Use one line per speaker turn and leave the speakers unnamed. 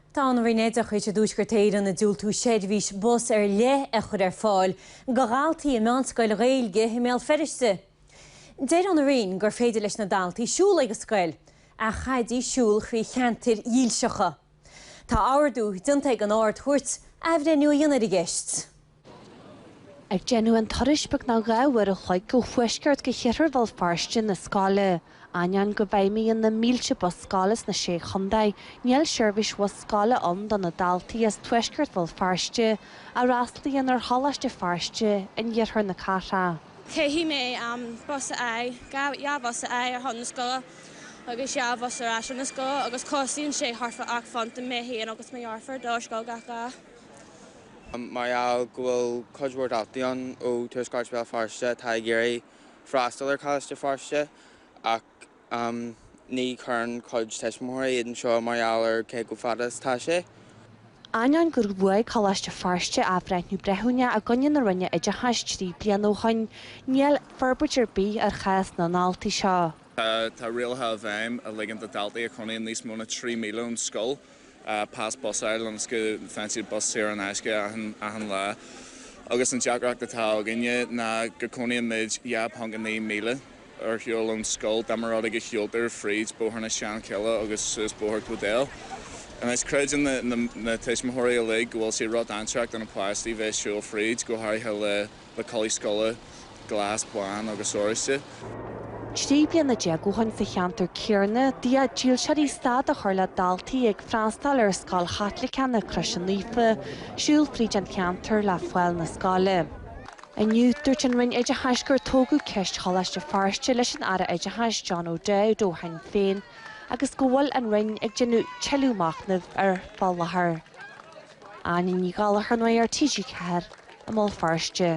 Tá an Roinn Oideachais i dTuaisceart Éireann ag diúltú seirbhís bus ar leith a chur ar fáil do dhaltaí i meánscoil Ghaeilge i mBéal Feirste. Deir an Roinn gur féidir leis na daltaí siúl chuig an scoil, ach chaithfidís siúl thrí cheantair dhílseacha. Tá ordú déanta ag an Ard-Chúirt athbhreithniú a dhéanamh ar an gceist.
Ag déanamh an turais beagnach dhá uair a chloig ó thuaisceart go hiarthar Bhéal Feirste 'na scoile. Ainneoin go bhfeidhmíonn na mílte bus scoile sna Sé Chontae, níl seirbhís bhus scoile ann do na daltaí as tuaisceart Bhéal Feirste a fhreastlaíonn ar Choláiste Feirste in iarthar na cathrach. Caithfidh
mé an bus a fháil, dhá bhus a fháil ar son na scoile agus dhá bhus ar ais óna scoil agus costaíonn sé thart fá ocht bpunt do mé féin agus mo dheirfiúr dul ar scoil gach lá.
Mar gheall go bhfuil cuid mhór daltaí ann ó thuaisceart Bhéal Feirste atá ag iarraidh freastal ar Choláiste Feirste ach ní chuireann cuid tuismitheoirí iad anseo mar gheall ar cé chomh fada is atá sé.
Ainneoin gur bhuaigh Coláiste Feirste athbhreithniú breithiúna i gcoinne na Roinne Oideachais trí bliana ó shoin, níl forbairt ar bith ar chás na ndaltaí seo. Tá rialacha
i bhfeidhm a ligeann do dhaltaí a chónaíonn níos mó na trí míle ón scoil pas bus a fháil ionas go bhfaigheann siad bus saor in aisce achan lá agus an deacracht atá againne ná go gcónaíonn muid 2.9 míle ar shiúl ón scoil dá mba rud é go siúltar fríd Bóthar na Seanchille agus suas Bóthar na bhFál. Anois creideann na tuismitheoirí uilig go bhfuil sé róchontúirteach do na páistí bheith ag siúl fríd, go háirithe le. na culaith scoile, glas, bán agus oráiste.
Trí bliana déag ó shin sa cheantar céanna, d'fhéach dílseoirí stad a chur le daltaí ag freastal ar scoil Chaitliceach na Croise Naofa siúl fríd an cheantar le fáil 'na scoile. Inniu, dúirt an Roinn Oideachais gur tógadh ceist Choláiste Feirste leis an Aire Oideachais John O'Dowd ó Shinn Féin agus go bhfuil an Roinn ag déanamh tuilleadh machnaimh air fá láthair. Áine Ní Ghallchóir, Nuacht TG4, i mBéal Feirste.